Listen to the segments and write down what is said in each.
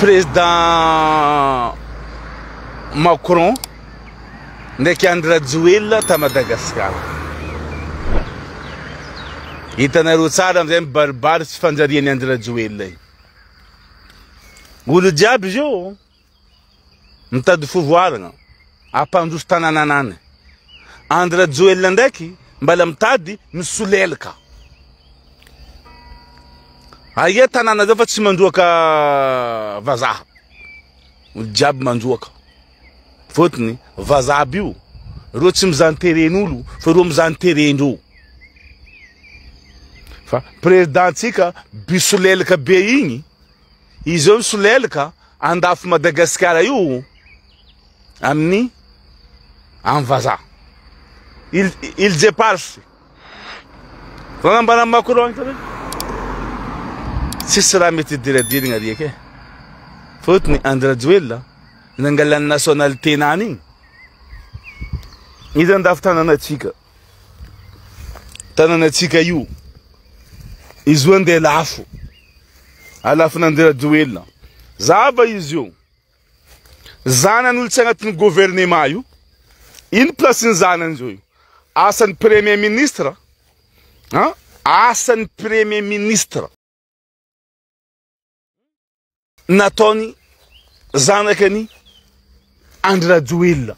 Président Macron ndraiky Andry Rajoelina ta Madagascar. Hitanareo tsara amizay mibaribary tsy fanjarian'i Andry Rajoelina io. Olo jiaby zio. Mitady fivoarana hampandroso tanananany. Andry Rajoelina ndraiky mbala mitady misolelka. Aia tanàna zao fa tsy mandroaka vazaha. Olo jiaby mandroaka. Fotony vazaha bio. Reo tsy mizan teren'olo fa reo mizan terendreo. Fa président tsika bisolelka be igny Izy eo misolelaka andafy Madagasikara io amin'ny amin'ny vazaha. Il, il jeparfy. Raha nambaran'i Macron ito hoe tsisy raha mety diradirigna riaka e. Fotony Andry Rajoelina nangalan'ny nationalité-nany igny. Izy andafy tanàna antsika. tananantsika io izy io andeha lafo alafina andeha rajoelina zava izy io zanan'olotsy agnatin'ny gouvernement io iny plasin'ny zanany zao io asan'ny premier ministre a asan'ny premier ministre nataony zanaka ny Andry Rajoelina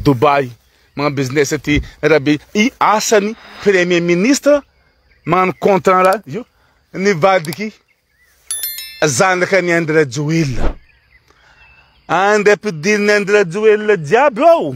Dubai magnano business aty Rabe i asany premier ministre magnano contrat raha io nivadiky zanaka ny Andry Rajoelina andra-pidirin'ny Andry Rajoelina jiaby ao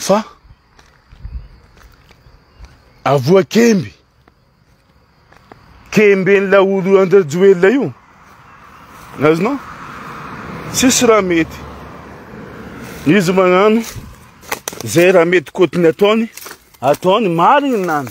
Fa avoa kemby, kemben'ny laolo an-dRajoelina io, azonao? Tsisy raha mety. Izy magnano izay raha mety koty ny ataony, ataony marina any.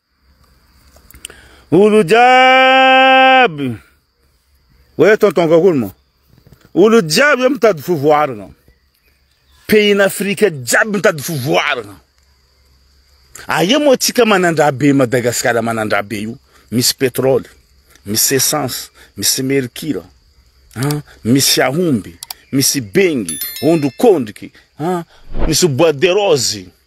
Olo jiaby! Hoe tonton kakoly mo. Olo jiaby mitady fivoarana. Pays Afrika jiaby mitady fivoarana. Aia moa tsika manandraha be Madagasikara manandraha be io. Misy pétrole, misy essence, misy mercure, hein? misy ahomby, misy bengy, ondrikondriky, hein? misy bois de rose.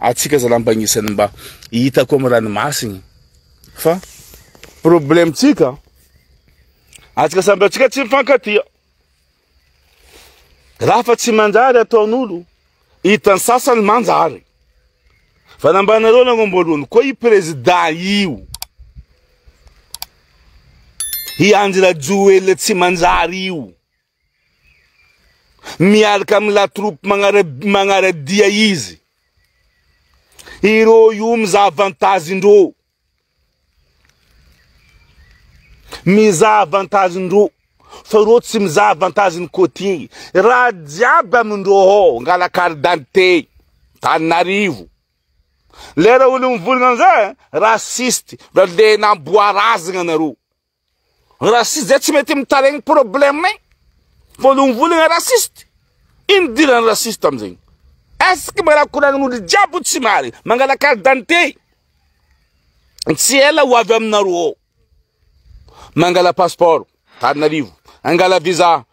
Atsika zalampa agnisany mba hitako am ranomasiny fa probleme tsika atsika samby atsika tsy mifankatia raha fa tsy manjary ataon'olo hitan'ny sasany manjary fa nambanareo nagnomboalohany koa i prezida io i Andry Rajoelina tsy manjary io Miaraka amin'ny la troupe magnara-dia izy. Ireo io mizaha avantage ndreo. Mizaha avantage ndreo. Fa ireo tsy mizaha avantage ny côtier. Raha jiaby amindreo ao, ngala carte d'identité, Tananarivo. Lera olo mivolagna amizay, raciste, ndra le namboarazagna nareo. Raciste zay tsy mety mitaregny problème nay. Voalohany raciste. Ino dirany raciste amizegny? Est-ce que mbola koragn'olo jiaby tsy mary mangala carte d'identité? Tsy ela ho avy aminareo ao. Mangala passeport, Tarinarivo. Angala visa,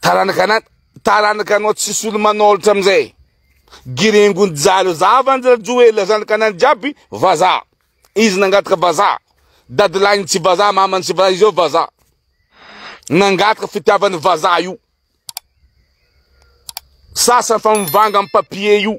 Taranaka taranaka anao tsisy olo manolotra amizay. Giringo njalo zava an'i Rajoelina zanakanany jiaby vazaha. Izy nangataka vazaha. Dadilahiny tsy vazaha, mamany tsy vazaha, izao vazaha. Nangataka fitiavany vazaha io. Sasany fa mivanga amin'ny papier io.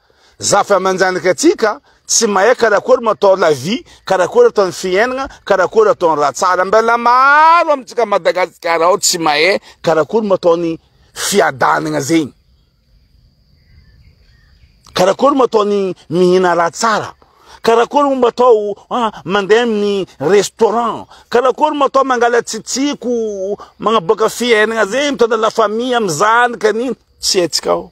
Zafa aman-janaka tsika tsy mahay karakory matao la vie, karakory atao ny fiainagna, karakory atao ny raha tsara. Mbela maro amintsika Madagasikara ao tsy mahay karakory matao ny fiadanagna zegny. Karakory matao ny mihina raha tsara. Karakory mo matao ah, mandeha amin'ny restaurant. Karakory matao mangala tsitsiko, magnaboaka fiainagna zegny, mitondra la famille amin'ny zanaka an'igny. Tsy haintsika ao.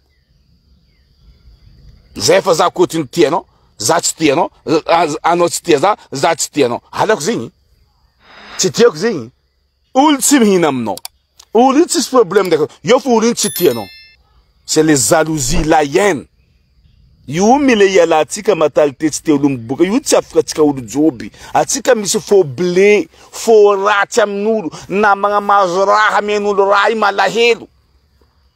Zay efa za koa tsy tia anao, za tsy tia anao, anao tsy tia za, za tsy tia anao. Halako zegny. Tsy tiako zegny. Olo tsy mihina aminao. Olo io tsisy problème ndaka. Io fo olo io tsy tia anao. C'est les jalousies, la haine. Io mila iala atsika mentalité tsy tia olo miboka. Io tsy afaka atsika olo joby. Atsika misy faux blé, faux ratsy amin'olo, namagna mahazo raha, amen'olo raha io malahelo.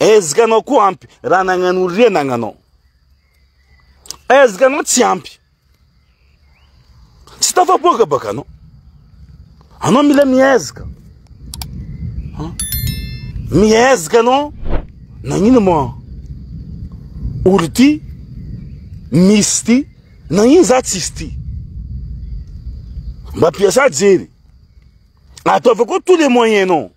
Ezaka anao koa ampy raha nagnano ry anagnanao. Ezaka anao tsy ampy. Tsy tafaboaka baka anao. Anao mila miezaka. Miezaka anao nagnino ma ory ty misy ty nagnino za tsisy ty. Mba piasa jery. Ataovy koa tous les moyens non.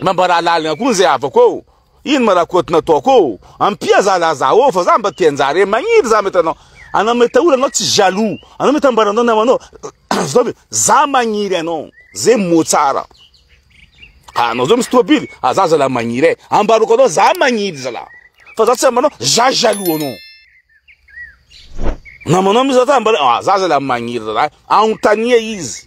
Mambara lalina koa zay havako ô. Ino ma rakoto nataoko ô. Ampia za la za ô fa za mba te hanjary e. Magniry za mety anao. Anao mety aola anao tsy jaloux. Anao mety ambara anao namanao. Zao be za magniry anao. Ze mo tsara. Anao zao misy tobily. Ah za zala magniry e. Ambaroko anao za magniry zala. Fa za tsy ambanao za jaloux anao. Namanao misy za ambara. Ah za zala magniry zala. Anontania izy.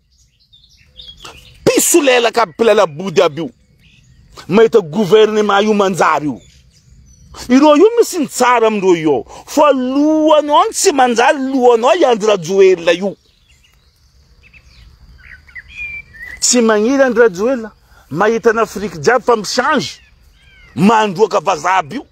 Mpisolelaka aby mpilalabody aby io. Mahita gouvernement io manjary io. Ireo io misy ny tsara amindreo io ao. Fa lohanao no tsy manjary lohanao i Andry Rajoelina io. Tsy magniry Andry Rajoelina. Mahita an'Afrique jiaby fa mi-change. Mandroaka vazaha aby io.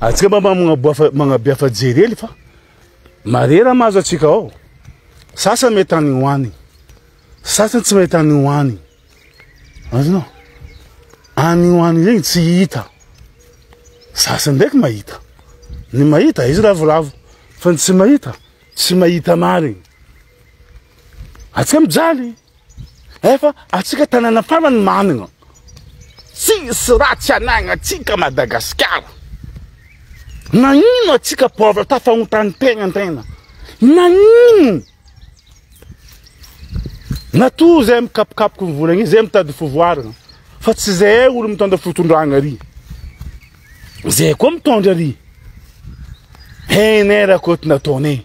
Atsika mba magnabiafa jerely fa marera mahazo atsika ao. Sasany mety any ho any. Sasany tsy mety any ho any. Azonao. Any ho any regny tsy hita. Sasany ndraiky mahita. Ny mahita izy ravoravo fa ny tsy mahita tsy mahita marigny. Atsika mijaly. Efa atsika tanàna farany manana tsisy raha tsy anagnantsika Madagasikara. Nagnino atsika pauvre tafahontany tegna tegna. Nagnino? Natoa zay mikapokapoky ny vola igny zay mitady fivoarana fa tsy zay olo mitondra fitondragna ry. Zay koa mitondra ry. Hainay raha koto nataonay.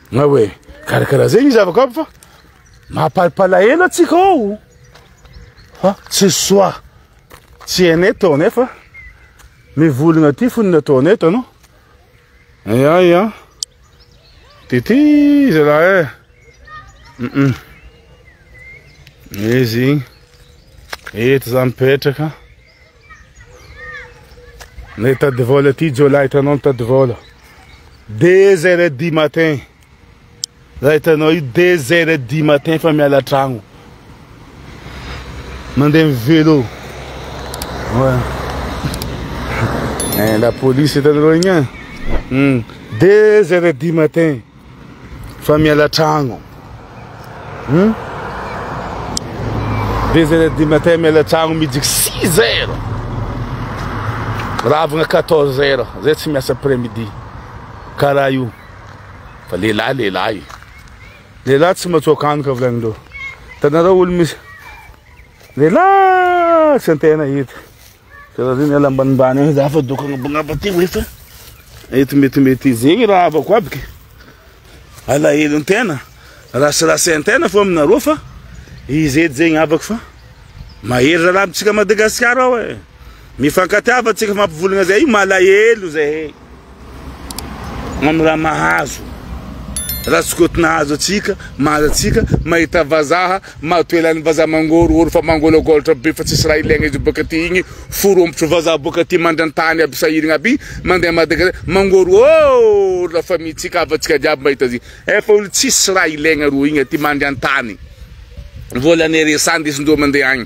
Na hoe karakara zay ny zava-kanto fa mampalpalahelo antsika ao fa tsy soa tsy hainay tao nefa mivologna aty fony nataonay tanao aya aya de ty zalahy e mm izy eto za mipetraka Nay tady vôla aty jiolahy hitanao ny tady vôla deux heures et dix matin raha hitanao io deux heures et dix matin fa miala tragno mandeha ny vélo ouais. eh, la police hitanareo igny an hmm. deux heures et dix matin Fa miala tragno. Hum? Deux heures du matin miala tragno midika six heures. Ravagna quatorze heures, zay tsy miasa après midi. Karaha io. Fa lehilahy lehilahy. Lehilahy tsy matsoaka antoka volanin-dreo. Tanareo olo misy lehilahy tsy an-tena hita. Karaha zay miala ambanimbany any za fa doka agnabagnaba aty hoe fa eto metimety izy zegny raha havako aby ke alahelo ny tena rasirasy ny tena fo aminareo fa izy edy zegny havako fa mahery raha lavintsika Madagasikara ao e mifankatiava tsika fampivolagna zay malahelo zahay Mamy raha mahazo, raha tsy koto nahazo antsika, mahazo antsika, mahita vazaha, mahatoela ny vazaha mangorohoro fa mangolagolatra be fa tsisy raha ilaigna izy boka aty igny, forompotro vazaha boka aty mandrantany aby sahirigna aby, mandeha Madagasikara, mangorohoro la famille tsika, havantsika jiaby mahita azy igny, efa olo tsisy raha ilaigna rô igny aty mandry antany, volan'ny RSA ndesindreo mandeha agny.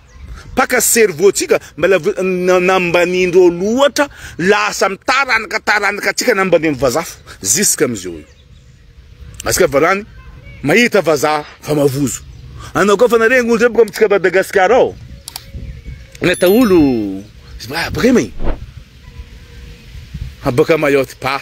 Mpaka cerveau tsika mbala nambanindreo loatra lasa am taranaka taranaka tsika nambanindry vazaha fo ziska am zeo io asika valany mahita vazaha fa mavozo anao koa fa nareny olo zay boka amitsika Madagascar ao neta olo ah, boka may ah, boka mayotte pa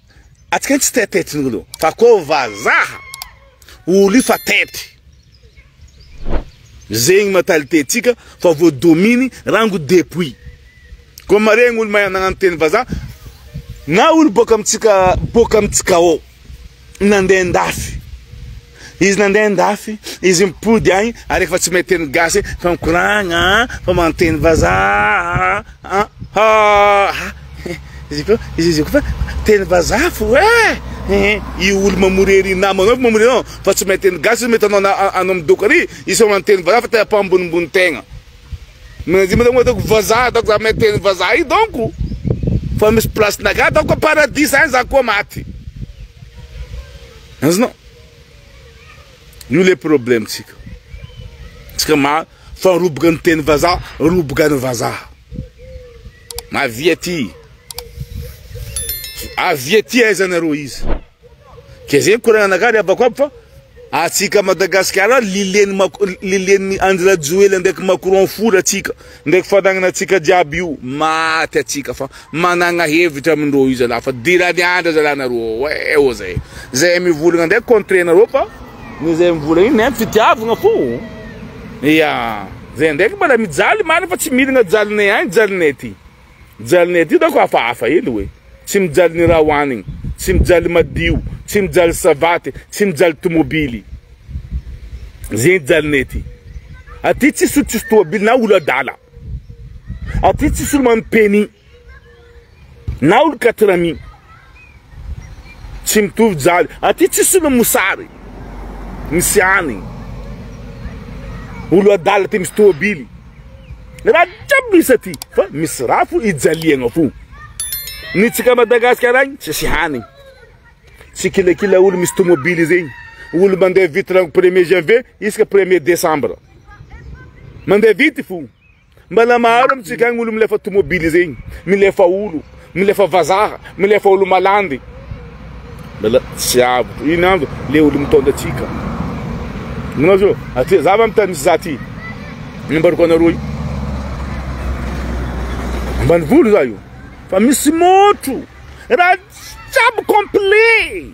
Atsika tsy tetety ny olo fa ko vazaha olo io fa tety. Zegny mentalité tsika fa vo domine rango depuis. Ko maregny olo mahay nagnano teny vazaha na olo boka amitsika boka amitsika ao nandeha andafy. Izy nandeha andafy, izy mipody agny ary efa tsy mahay teny gasy fa mikoragna fa manteny vazaha ah ah izy ko izy izy ko fa teny vazaha fo eh i olo mamory ery namanao fo mamory anao fa tsy mahay teny gasy mety anao anao midoko ary izy fa manteny vazaha fa tena mpambonimbony tegna manadimo ataoko ataoko vazaha ataoko za mahay teny vazaha i donko fa misy place-nakà ataoko paradis zany za koa maty Azonao? Io le problème tsika. Tsika ma fa roboka ny teny vazaha, roboka ny vazaha. Avia ty. Avia ty aiza nareo izy. Kezegny koragna anakah ry abako aby fa atsika Madagasikara lilien'ny Andry Rajoely ndraiky Macron fora atsika. Ndreky fanagnana atsika jiaby io maty atsika fa managna hevitra amindreo io zalahy fa dirany andra zalahy nareo ao eh ô zay zay mivolagna ndray contre nareo fa ny zay mivolagna io nem fitiavagna fô ia zay ndraiky mbola mijaly marigny fa tsy miragna jalinay agny jalinay ty. Mijaly ny ety hitako hafahafa ely hoe. Tsy mijaly ny raha hohanigny, tsy mijaly madio, tsy mijaly savaty, tsy mijaly tomobily. Ze hijalinay ety. Aty tsisy olo tsisy tomobily na olo adala. Aty tsisy olo manao permis na olo katrami. Tsy mitovy jali. Aty tsisy olona mosary. Misy any. Olo adala ty misy tôbily. Raha jiaby misy aty. Fa misy raha fo ijaliagna fo. Ny tsika Madagasikara agny tsisy hany. Tsy kilakila olo misy tômôbily zegny. Olo mandeha vity rango premier janvier isaka premier décembre. Mandeha vity fo. Mbana maro amintsika agny olo milefa tomobily zegny, milefa olo, milefa vazaha, milefa olo malandy. Mbala tsy avotro ino andro le olo mitondra atsika. Manao zo, aty zava am tany misy za ty. Nambarako anareo io. Ambanivolo za io. Fa misy môtro. Raha jiaby complet.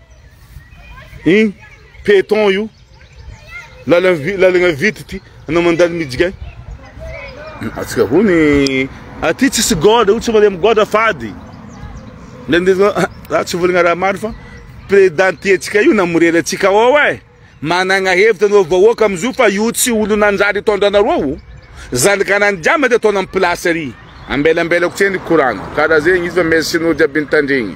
Iny peton io. Lalagna vity ty. Anao mandalo mijigay. Atsika hony. Aty tsisy gôdra, tsy vôlagna amin'ny gôdra fady. Za tsy vôlagna raha maro fa président tiantsika io namorera antsika ao eh. Managna hevitra anao vahoaka amizio fa io tsy olo nanjary hitondra anareo io. Zanaka nandiamina de ataonao amin'ny place ary. Ambela ambela koa tse ny courant-nao. Karaha zegny izy fa merci anao jiaby nitandregny.